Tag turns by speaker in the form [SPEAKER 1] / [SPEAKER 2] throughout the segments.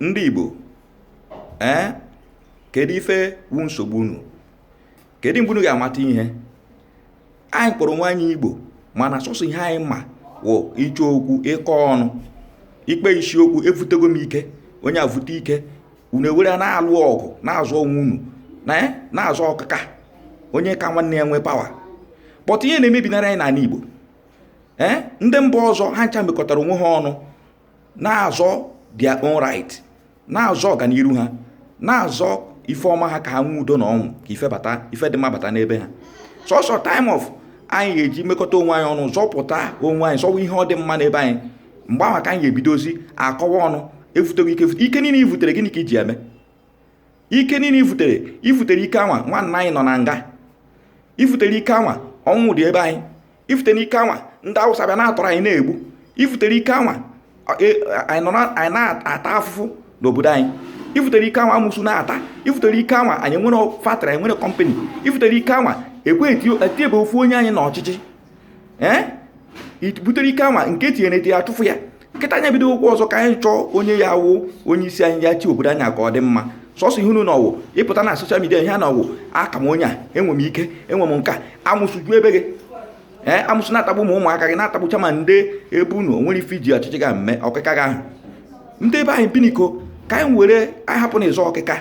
[SPEAKER 1] ndị Igbo ee kedu ife wu nsogbu unu kedu mgbe unu ga-amata ihe anyị kpọrọ onwe anyị Igbo mana sọsọ ihe anyị ma wụ ịchọ okwu ịkọ ọnụ ikpe isiokwu evutego m ike onye avute ike unu ewere na-alụ ọgụ na-azọ onwe unu eh, na-azọ ọkaka onye ka nwanne ya nwee power but ihe na-emebinara anyị n'ala Igbo ee eh, ndị mba ọzọ ha ncha mekọtara onwe ha ọnụ na-azọ their own right na-azọ ọganiru ha na-azọ ife ọma ha ka ha nwee udo na ọṅụ ka ife bata ife dị mma bata n'ebe ha sọsọ time afụ anyị ga-eji mekọta onwe anyị ọnụ zọpụta onwe anyị zọwa ihe ọdịmma n'ebe anyị mgbe ahụ ka anyị ga-ebidozi akọwa ọnụ evutego ike ike niile i vutere gịnị ka i ji eme ike niile i vutere i vutere ike anwa nwanna anyị nọ na nga i vutere ike anwa ọnwụ dị ebe anyị i vutere ike anwa ndị Awụsa bịa na-atọrọ anyị na-egbu i vutere ike anwa e, anyị na-ata afụfụ n'obodo anyị i vutere ike anwa amụsụ na-ata i vutere ike anwa anyị nwere factory anyị nwere company i vutere ike anwa ekwe etinyebe ofu onye anyị na ọchịchị ee butere ike anwa nke e tinyere etinye a chụfụ ya kịta anyị ebido okwu ọzọ ka anyị chọọ onye ya-awụ onye isi anyị ya-achị obodo anyị ka ọ dị mma sọsọ ihe unu ma wụ ịpụta na social media ihe a na ọwụ aka m onye a enwe m ike enwe m nke a amụsụ ju ebe gị ee amụsụ na-atagbu ụmụ ụmụaka gị na-atagbucha ma ndị ebe unu o nwere ife i ji ọchịchị gị mee ọkịka gị ahụ ndị ebe anyị biniko ka anyị were anyị hapụ na ịzọ ọkịka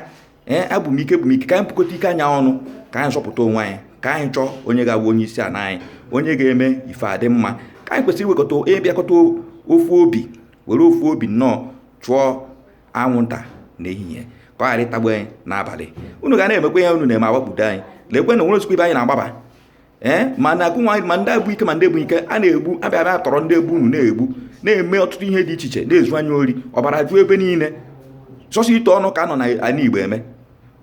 [SPEAKER 1] ee abụ m ike bụ m ike ka anyị bukọta ike anyị ọnụ ka anyị zọpụta onwe anyị ka anyị chọọ onye ga-abụ onye isi ala anyị onye ga-eme ife adị mma ka anyị kwesịrị iwekọta ịbịakọta ofu obi were ofu obi nnọọ chụọ anwụnta n'ehihie ka ọ ghara ịtagbu anyị n'abalị unu ga na-emekwa ihe unu na-eme a gbakpudo anyị lekwenụ nwere ozikwa ibe anyị na-agbaba ee ma na agụnwa ma ndị abụ ike ma ndị ebu ike a na-egbu abịa abịa tọrọ ndị ebe unu na-egbu na-eme ọtụtụ ihe dị iche iche na-ezu anyị ori ọbara juo ebe niile sọsọ ịtụ ọnụ ka nọ n'ala Igbo eme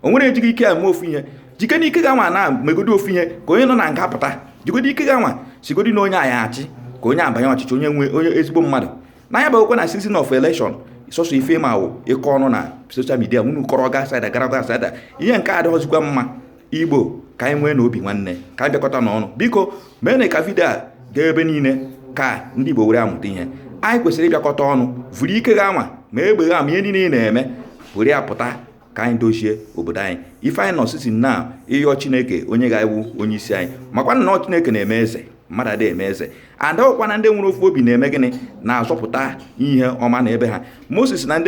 [SPEAKER 1] o nwere ejighị ike eme ofu ihe jike na ike gị anwa na megodi ofu ihe ka onye nọ na nga pụta jigodi ike gị anwa sịgodi na onye anyị achị ka onye abanye ọchịchị onye nwe onye ezigbo mmadụ na ya bụkwa na season of election sọsọ ife ma wụ ịkọ ọnụ na social media unu kọrọ gaa side a gara gaa side a ihe nke adịghọzikwa mma igbo ka anyị nweenụ obi nwanne ka anyị bịakọtanụ ọnụ biko meenụ ka video a gaa ebe niile ka ndị igbo were amụta ihe anyị kwesịrị ịbịakọta ọnụ vụrụ ike gị anwa ma egbe gị ma ihe niile ị na-eme were ya pụta ka anyị dozie obodo anyị ife anyị nọ sisi na ịyọ chineke onye ga-awụ onye isi anyị makwa na chineke na-eme eze mmadụ adịghị eme eze and ọkwa na ndị nwere ofu obi na-eme gịnị na-azọpụta ihe ọma na ebe ha moses na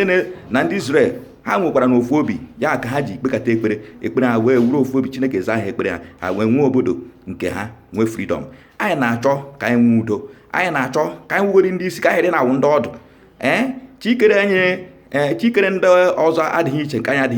[SPEAKER 1] ndị israel ha nwekwara na ofu obi ya ka ha ji kpekata ekpere ekpere ha wee wụrụ ofu obi chineke zaa ha ekpere ha ha wee nwee obodo nke ha nwee freedom anyị na-achọ ka anyị nwee udo anyị na-achọ ka anyị wụrụ ndị isi ka anyị dị na-awụ ndị ọdụ ee eh, chi kere anyị ee eh, chi kere ndị ọzọ adịghị iche nke anyị adịghị